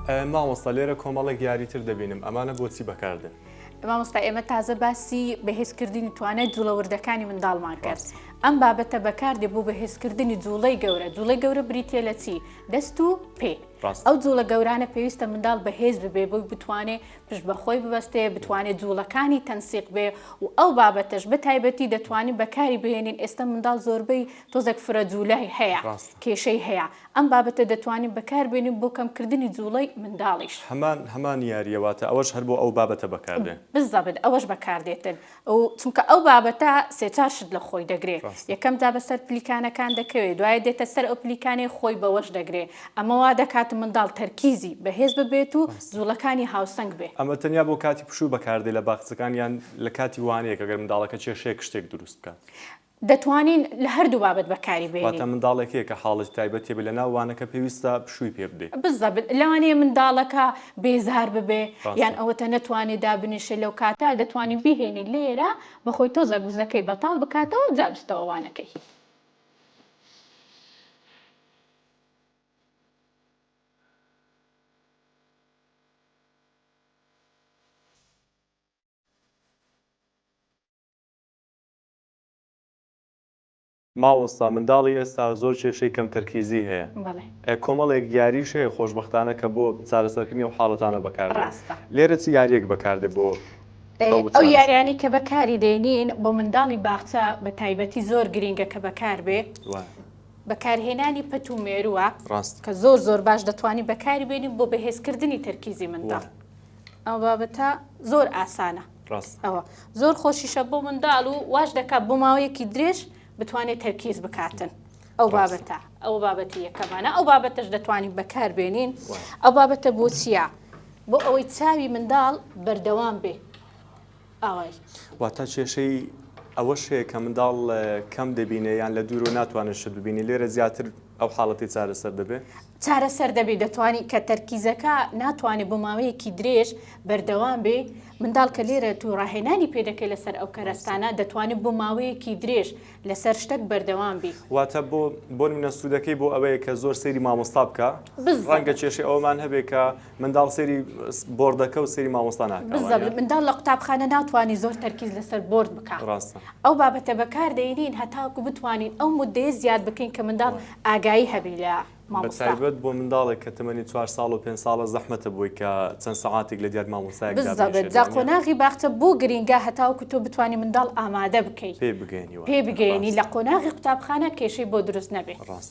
مامۆستا لێرە کۆمەڵێک یاری تر دەبینم ئەمانە بۆچی بەکاردێن؟ مامۆستا ئێمە تازە باسی بەهێزکردنی توانای جوڵە وردەکانی منداڵمان کرد ئەم بابەتە بەکاردێ بۆ بەهێزکردنی جوڵەی گەورە جوڵەی گەورە بریتە لە چی دەست و پێ ئەو جوڵە گەورانە پێویستە منداڵ بەهێز ببێ بۆی بتوانێ پشت بەخۆی ببەستێ بتوانێت جوڵەکانی تەنسیق بێ و ئەو بابەتەش بە تایبەتی دەتوانین بەکاری بهێنین ئێستا منداڵ زۆربەی تۆزێک فرە جوولای هەیە کێشەی هەیە ئەم بابەتە دەتوانین بەکار بێنین بۆ کەم کردنی جوڵەی منداڵیش. هەمان هەمان یاریە واتە ئەوەش هەر بۆ ئەو بابەتە بەکار دێ. بزەبت ئەوەش بەکار دێتن و چونکە ئەو بابەتە سێ چار شت لە خۆی دەگرێ ڕاستە. یەکەم جا بەسەر پلیکانەکان دەکەوێ دوایە دێتە سەر ئەو پلیکانەی خۆی بەوەش دەگرێ ئەمە وا دەکات منداڵ تەرکیزی بەهێز ببێت و ڕاستە. جوڵەکانی هاوسەنگ بێ. ئەمە تەنیا بۆ کاتی پشوو بەکار دێ لە باخچەکان یان لە کاتی وانەیەک ئەگەر منداڵەکە کێشەیەک شتێک دروست بکات؟ دەتوانین لە هەردوو بابەت بەکاری بێنین. واتە منداڵێک هەیە کە حاڵەتی تایبەت هەیە بێ لە ناو وانەکە پێویستە پشووی پێ بدەی. بالضبط لەوانەیە منداڵەکە بێزار ببێ یان ڕاستە. ئەوەتا نەتوانێ دابنیشێ لەو کاتە دەتوانین بیهێنین لێرە بە خۆی تۆزەک وزەکەی بەتاڵ بکاتەوە جا بچتەوە وانەکەی. ماۆستا منداڵی ئێستا زۆر کێشەی کەم تەرکیزی هەیە بەڵێ. ئە کۆمەڵێک یاریش هەیە خۆشبەختانە کە بۆ چارەسەرکردنی ئەو حاڵەتانە بەکار دێت ڕاستە. لێرە چ یاریەک بەکار دێت بۆ ئەو ئەو چارەسەر. یاریانەی کە بە کاری دێنین بۆ منداڵی باخچە بە تایبەتی زۆر گرینگە کە بەکار بێ وایە. بەکار هێنانی پەت و مێروە ڕاستە. کە زۆر زۆر باش دەتوانی بەکاری بێنی بۆ بەهێز کردنی تەرکیزی منداڵ وایە. ئەو بابەتە زۆر ئاسانە. زۆر خۆشیشە بۆ منداڵ و واش دەکات بۆ ماوەیەکی درێژ بتوانێت تەرکیز بکاتن. ئەو بابەتە ئەو بابەتی یەکەمانە ئەو بابەتەش دەتوانین بەکاربێنین ئەو بابەتە بۆ چییە؟ بۆ ئەوەی چاوی منداڵ بەردەوام بێ ئاوای واتە کێشەی ئەوە شەیە کە منداڵ کەم دەبینێ یان لە دوورۆ ناتوانێت شت ببینی لێرە زیاتر ئەو حاڵەتی چارەسەر دەبێت چارەسەر دەبێت دەتوانی کە تەرکیزەکە ناتوانێت بۆ ماوەیەکی درێژ بەردەوام بێ منداڵ کە لێرە تو ڕاهێنانی پێدەکەی لەسەر ئەو کەرەستانە دەتوانێت بۆ ماوەیەکی درێژ لەسەر شتەک بەردەوام بی واتە بۆ بۆن منە سوودەکەی بۆ ئەوەیە کە زۆر سەیری مامۆستا بکە ڕەنگە کێشی ئەومان هەبێ کە منداڵ سری بردەکە و سری مامۆستا ناکە منداڵ لە قوتابخانە ناتوانانی زۆر تەرکیز لەسەر برد بکە ڕاستە ئەو بابەتە بەکار دەینین هەتاکو بتوانین ئەو مدەیە زیاد بکەین کە منداڵ ئاگایی هەبی لە مامۆستابەت بۆ منداڵێک کە تەمەنی چوار ساڵ و پێ ساڵە زەحمەتە بۆی کە چەند سەعاتێک لە دیار مامۆسای جا قۆناغی باخچە بۆ گرینگە هەتاوکو تۆ بتانی منداڵ ئامادە بکەیت پێ بگەێنی پێ بگەێنی لە قۆناغی قوتابخانە کێشەی بۆ دروست نەبێت ڕاست.